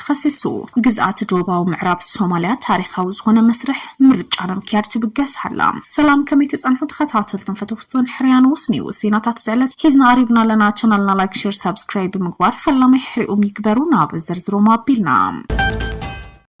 ተኸሲሱ። ግዝኣት ዶባዊ ምዕራብ ሶማልያ ታሪኻዊ ዝኾነ መስርሕ ምርጫ ንምክያድ ትብገስ ሃላ። ሰላም ከመይ ትጸንሑ ተኸታተልትን ፈተውትን ሕርያ ንውስ ኒውስ ዜናታት ዝዕለት ሒዝና ቀሪብና ኣለና። ቻናልና ላይክ ሼር ሳብስክራይብ ብምግባር ፈላማይ ሕርኡም ይግበሩ ናብ ዝርዝሮም ኣቢልና።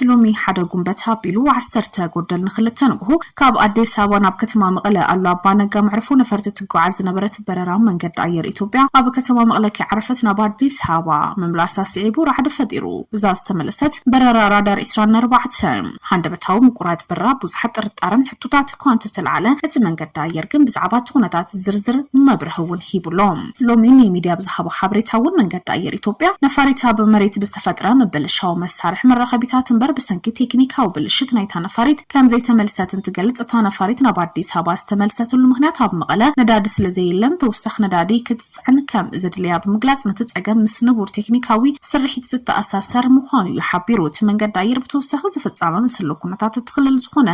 ሎሚ ሓደ ጉንበት ኣቢሉ ዓሰርተ ጎደል ንክልተ ንግሆ ካብ ኣዲስ ኣበባ ናብ ከተማ መቐለ ኣሉ ኣባ ነጋ መዕርፎ ነፈርቲ ትጓዓዝ ዝነበረት በረራ መንገዲ ኣየር ኢትዮጵያ ኣብ ከተማ መቕለ ከይዓረፈት ናብ ኣዲስ ኣበባ ምምላሳ ስዒቡ ራዕዲ ፈጢሩ። እዛ ዝተመለሰት በረራ ራዳር ዕስራን ኣርባዕተን፣ ሃንደበታዊ ምቁራጽ በረራ ኣብ ብዙሓት ጥርጣረን ሕቶታት እኳ እንተተላዕለ፣ እቲ መንገዲ ኣየር ግን ብዛዕባ እቲ ኩነታት ዝርዝር መብርሂ እውን ሂቡ ኣሎ። ሎሚ ንሚድያ ብዝሃቦ ሓበሬታ እውን መንገዲ ኣየር ኢትዮጵያ ነፋሪት ኣብ መሬት ብዝተፈጥረ ምብልሻው መሳርሒ መራኸቢታት እምበር ብሰንኪ ቴክኒካዊ ብልሽት ናይታ ነፋሪት ከም ዘይተመልሰትን ትገልጽ። እታ ነፋሪት ናብ ኣዲስ ኣበባ ዝተመልሰትሉ ምኽንያት ኣብ መቐለ ነዳዲ ስለ ዘየለን ተወሳኺ ነዳዲ ክትጽዕን ከም ዘድልያ ብምግላጽ ነቲ ጸገም ምስ ንቡር ቴክኒካዊ ስርሒት ዝተኣሳሰር ምዃኑ'ዩ ሓቢሩ። እቲ መንገዲ ኣየር ብተወሳኺ ዝፍጻመ ምስ ህልው ኩነታት እቲ ክልል ዝኾነ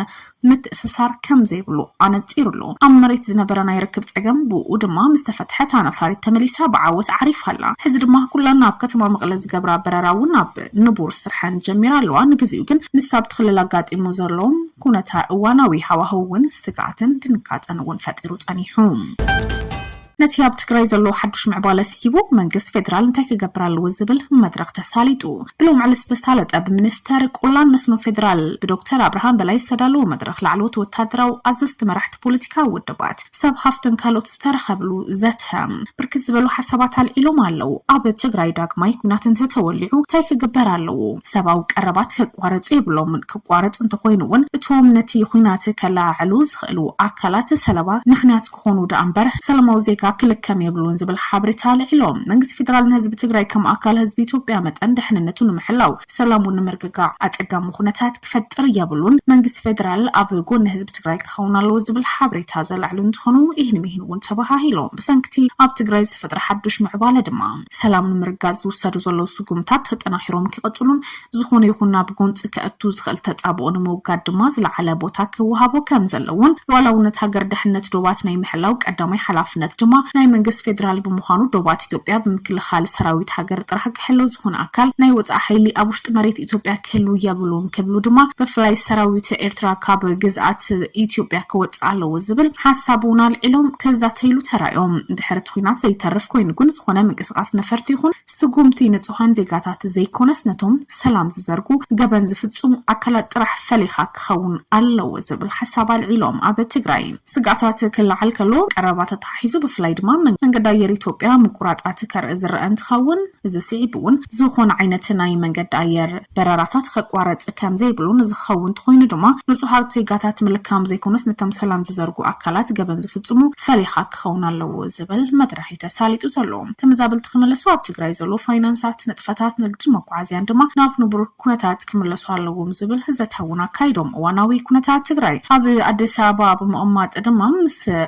ምትእስሳር ከም ዘይብሉ ኣነጺሩ'ሎ። ኣብ መሬት ዝነበረ ናይ ርክብ ጸገም ብእኡ ድማ ምስ ተፈትሐ እታ ነፋሪት ተመሊሳ ብዓወት ዓሪፋ'ላ። ሕዚ ድማ ኩለን ናብ ከተማ መቐለ ዝገብራ በረራ'ውን ናብ። ክትሰርሕ ንቡር ስርሐን ጀሚራ ኣለዋ። ንግዚኡ ግን ምስ ኣብቲ ክልል ኣጋጢሙ ዘሎ ኩነተ እዋናዊ ሃዋህው እውን ስግኣትን ድንጋፀን እውን ፈጢሩ ፀኒሑ። ነቲ ኣብ ትግራይ ዘሎ ሓዱሽ ምዕባለ ስዒቡ መንግስት ፌደራል እንታይ ክገብር ኣለዎ ዝብል መድረኽ ተሳሊጡ ብሎም ዕለት ዝተሳለጠ ብሚኒስተር ቆላን መስኖ ፌደራል ብዶክተር ኣብርሃም በላይ ዝተዳለወ መድረኽ ላዕለዎት ወታደራዊ ኣዘዝቲ መራሕቲ ፖለቲካዊ ውድባት ሰብ ሃፍትን ካልኦት ዝተረኸብሉ ዘተ ብርክት ዝበሉ ሓሳባት ኣልዒሎም ኣለው። ኣብ ትግራይ ዳግማይ ኲናት እንተተወሊዑ እንታይ ክግበር ኣለዎ? ሰብኣዊ ቀረባት ከቋርፁ የብሎምን፣ ክቋረፅ እንተኾይኑ እውን እቶም ነቲ ዂናት ከለዓዕሉ ዝኽእሉ ኣካላት ሰለባ ምኽንያት ክኾኑ ደኣ እምበር ሰላማዊ ዜጋ ክልከም የብሉን ዝብል ሓበሬታ ኣልዒሎም። መንግስቲ ፌደራል ንህዝቢ ትግራይ ከም ኣካል ህዝቢ ኢትዮጵያ መጠን ደሕንነቱ ንምሕላው ሰላሙ ንምርግጋዕ ኣፀጋሚ ኹነታት ክፈጥር የብሉን መንግስቲ ፌደራል ኣብ ጎኒ ህዝቢ ትግራይ ክኸውን ኣለዎ ዝብል ሓበሬታ ዘለዕሉ እንትኾኑ ይህን ሚህን እውን ተባሃሂሎም ብሰንኪቲ ኣብ ትግራይ ዝተፈጥረ ሓዱሽ ምዕባለ ድማ ሰላም ንምርጋፅ ዝውሰዱ ዘለዉ ስጉምታት ተጠናኺሮም ክቕፅሉን ዝኾነ ይኹን ናብ ጎንፂ ከእቱ ዝኽእል ተፃብኦ ንምውጋድ ድማ ዝለዓለ ቦታ ክወሃቦ ከምዘለዎን ሉኣላውነት ሃገር ደሕንነት ዶባት ናይ ምሕላው ቀዳማይ ሓላፍነት ድማ ናይ መንግስቲ ፌደራል ብምዃኑ ዶባት ኢትዮጵያ ብምክልኻል ሰራዊት ሃገር ጥራሕ ክሕለው ዝኾነ ኣካል ናይ ወፃኢ ሓይሊ ኣብ ውሽጢ መሬት ኢትዮጵያ ክህልው የብሉን ክብሉ ድማ ብፍላይ ሰራዊት ኤርትራ ካብ ግዝኣት ኢትዮጵያ ክወፅእ ኣለዎ ዝብል ሓሳብ እውን ኣልዒሎም ክዛተይሉ ተራእዮም። ድሕሪ እቲ ኹናት ዘይተርፍ ኮይኑ ግን ዝኾነ ምንቅስቓስ ነፈርቲ ይኹን ስጉምቲ ንፁሃን ዜጋታት ዘይኮነስ ነቶም ሰላም ዝዘርጉ ገበን ዝፍፅሙ ኣካላት ጥራሕ ፈሊኻ ክኸውን ኣለዎ ዝብል ሓሳብ ኣልዒሎም። ኣብ ትግራይ ስግኣታት ክለዓል ከሎ ቀረባ ተተሓሒዙ ብፍላይ ድማ መንገዲ ኣየር ኢትዮጵያ ምቁራፃት ከርኢ ዝረኣ እንትኸውን፣ እዚ ስዒቡ እውን ዝኾነ ዓይነት ናይ መንገዲ ኣየር በረራታት ኸቋረፅ ከምዘይብሉን እዚ ክኸውን እንተኾይኑ ድማ ንፁሃት ዜጋታት ምልካም ዘይኮነስ ነቶም ሰላም ዝዘርጉ ኣካላት ገበን ዝፍፅሙ ፈሊኻ ክኸውን ኣለዎ ዝብል መድረኽ እዩ ተሳሊጡ ዘሎ። ተመዛበልቲ ክምለሱ ኣብ ትግራይ ዘሎ ፋይናንሳት፣ ንጥፈታት ንግድን መጓዓዝያን ድማ ናብ ንቡር ኩነታት ክምለሱ ኣለዎም ዝብል ዘተ እውን ኣካይዶም። እዋናዊ ኩነታት ትግራይ ኣብ ኣዲስ ኣበባ ብምቕማጥ ድማ ምስ።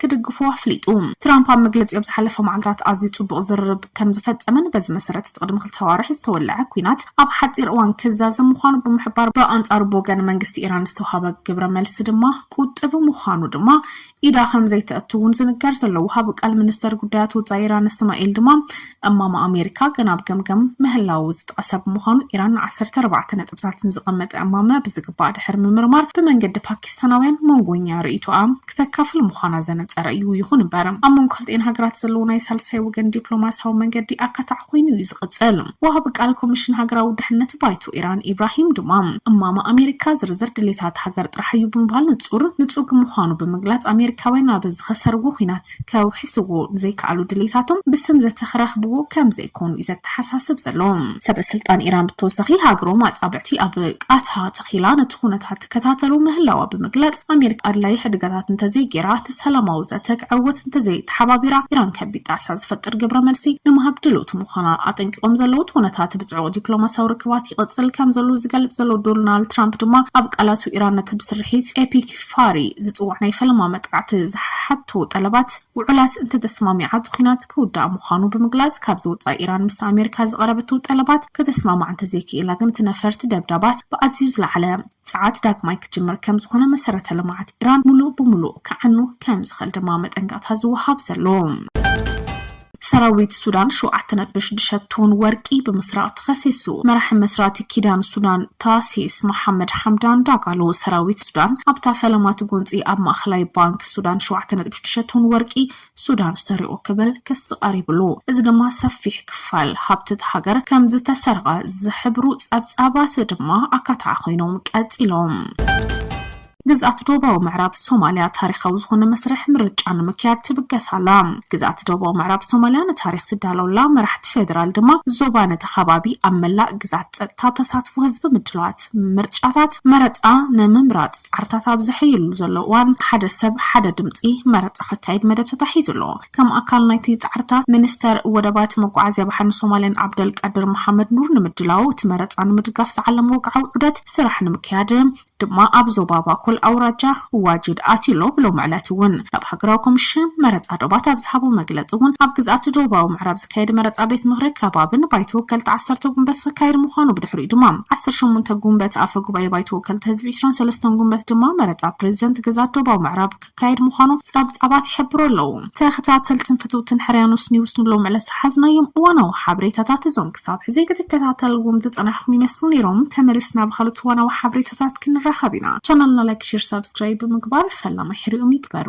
ክድግፉዎ ኣፍሊጡ። ትራምፕ ኣብ መግለጺኡ ኣብ ዝሓለፈ መዓልታት ኣዝዩ ጽቡቕ ዝርርብ ከም ዝፈጸመን በዚ መሰረት እቲ ቅድሚ ክልተ ኣዋርሕ ዝተወልዐ ኲናት ኣብ ሓጺር እዋን ክዛዘም ምዃኑ ብምሕባር ብኣንጻሩ ብወገን መንግስቲ ኢራን ዝተውሃበ ግብረ መልሲ ድማ ቁጥቢ ምዃኑ ድማ ኢዳ ከም ዘይተእቱ እውን ዝንገር ዘሎ ወሃቢ ቃል ሚኒስተር ጉዳያት ወጻኢ ኢራን እስማኤል ድማ እማመ ኣሜሪካ ገና ኣብ ገምገም ምህላዉ ዝጠቐሰ ብምዃኑ ኢራን ንዓሰርተ ኣርባዕተ ነጥብታት ንዝቐመጠ እማመ ብዝግባእ ድሕሪ ምምርማር ብመንገዲ ፓኪስታናውያን መንጎኛ ርእይቶኣ ክተካፍል ምዃና ዘነጸረ እዩ። ይኹን እምበር ኣብ መንጎ ክልቲኤን ሃገራት ዘለዎ ናይ ሳልሳይ ወገን ዲፕሎማስያዊ መንገዲ ኣካታዒ ኮይኑ እዩ ዝቕጽል። ወሃቢ ቃል ኮሚሽን ሃገራዊ ድሕነት ባይቶ ኢራን ኢብራሂም ድማ እማመ ኣሜሪካ ዝርዝር ድሌታት ሃገር ጥራሕ እዩ ብምባል ንጹር ንጹግ ምዃኑ ብምግላጽ ኣሜሪካውያን ኣብ ዝኸሰርዎ ኲናት መጻሕፍት ከውሕስዎ ንዘይከኣሉ ድሌታቶም ብስም ዘተ ክረኽብዎ ከም ዘይኮኑ እዩ ዘተሓሳስብ ዘሎ። ሰበ ስልጣን ኢራን ብተወሳኺ ሃገሮም ኣጻብዕቲ ኣብ ቃታ ተኺላ ነቲ ኩነታት ትከታተሎ ምህላዋ ብምግላጽ ኣሜሪካ ኣድላዪ ሕድገታት እንተዘይገይራ እቲ ሰላማዊ ዘተ ክዕወት እንተዘይተሓባቢራ ኢራን ከቢድ ጣዕሳ ዝፈጥር ግብረ መልሲ ንምሃብ ድልውቲ ምዃና ኣጠንቂቖም ዘለዉ። እቲ ኩነታት ብጽዑቕ ዲፕሎማስያዊ ርክባት ይቕጽል ከም ዘሎ ዝገልጽ ዘሎ ዶናልድ ትራምፕ ድማ ኣብ ቃላቱ ኢራን ነቲ ብስርሒት ኤፒክ ፋሪ ዝጽዋዕ ናይ ፈለማ መጥቃዕቲ ዝሓቱ ጠለባት ውዑላት እንተተስማሚዓ እቲ ኲናት ክውዳእ ምዃኑ ብምግላጽ ካብዚ ወጻኢ ኢራን ምስ ኣሜሪካ ዝቐረበቶ ጠለባት ከተስማማዕ እንተዘይክኢላ ግን እቲ ነፈርቲ ደብዳባት ብኣዝዩ ዝለዓለ ጸዓት ዳግማይ ክጅምር ከምዝኾነ መሰረተ ልምዓት ኢራን ሙሉእ ብሙሉእ ክዓኑ ከምዝኽእል ድማ መጠንቀቕታ ዝወሃብ ዘሎ። ሰራዊት ሱዳን ሸውዓተ ነጥቢ ሽዱሽተ ቶን ወርቂ ብምስራቕ ተኸሲሱ። መራሒ መስራቲ ኪዳን ሱዳን ታሲስ መሓመድ ሓምዳን ዳጋሎ፣ ሰራዊት ሱዳን ኣብታ ፈለማ ትጎንፂ ኣብ ማእኸላይ ባንክ ሱዳን ሸውዓተ ነጥቢ ሽዱሽተ ቶን ወርቂ ሱዳን ሰሪቑ ክብል ክሲ ቀሪብሉ። እዚ ድማ ሰፊሕ ክፋል ሃብቲ እታ ሃገር ከምዝተሰርቐ ዝሕብሩ ፀብፃባት ድማ ኣካታዒ ኮይኖም ቀፂሎም። ግዝኣት ዶባዊ ምዕራብ ሶማልያ ታሪኻዊ ዝኾነ መስርሕ ምርጫ ንምክያድ ትብገስ ኣላ። ግዝኣት ዶባዊ ምዕራብ ሶማልያ ንታሪኽ ትዳሎ ኣላ፣ መራሕቲ ፌደራል ድማ ዞባ ነቲ ከባቢ ኣብ መላእ ግዝኣት ጸጥታ ተሳትፎ ህዝቢ ምድላዋት ምርጫታት መረጻ ንምምራጽ ጻዕርታት ኣብ ዘሐይልሉ ዘለዉ እዋን ሓደ ሰብ ሓደ ድምጺ መረጻ ክካየድ መደብ ተታሒዙ ኣሎ። ከም ኣካል ናይቲ ጻዕርታት ሚኒስተር ወደባት፣ መጓዓዝያ ባሕርን ሶማልያን ዓብደልቃድር መሓመድ ኑር ንምድላው እቲ መረጻ ንምድጋፍ ዝዓለመ ወግዓዊ ዑደት ስራሕ ንምክያድ ድማ ኣብ ዞባ ባኮል ኣውራጃ ዋጂድ ኣቲሎ ብሎሚ ዕለት እውን ናብ ሃገራዊ ኮሚሽን መረፃ ዶባት ኣብ ዝሃቦ መግለፂ እውን ኣብ ግዝኣት ዶባዊ ምዕራብ ዝካየድ መረፃ ቤት ምኽሪ ከባብን ባይቶ ወከልቲ ዓሰርተ ጉንበት ክካየድ ምዃኑ ብድሕሪኡ ድማ ዓሰርተ ሸሞንተ ጉንበት ኣፈ ጉባኤ ባይቶ ወከልቲ ህዝቢ ዕስራን ሰለስተን ጉንበት ድማ መረፃ ፕሬዚደንት ግዝኣት ዶባዊ ምዕራብ ክካየድ ምዃኑ ጸብጻባት ይሕብሩ ኣለዉ። ተኸታተልትን ፈተውትን ሕርያኖስ ኒውስ ንሎሚ ዕለት ዝሓዝናዮም እዋናዊ ሓበሬታታት እዞም ክሳብ ሕዚ ክትከታተልዎም ዝጸናሕኩም ይመስሉ ኔሮም። ተመልስና ብኻልኦት እዋናዊ ሓበሬታታት ክንራኸብ ኢና። ቻናልና ላይክ ሼር ሳብስክራይብ ብምግባር ፈላማይ ሕርኦም ይግበሩ።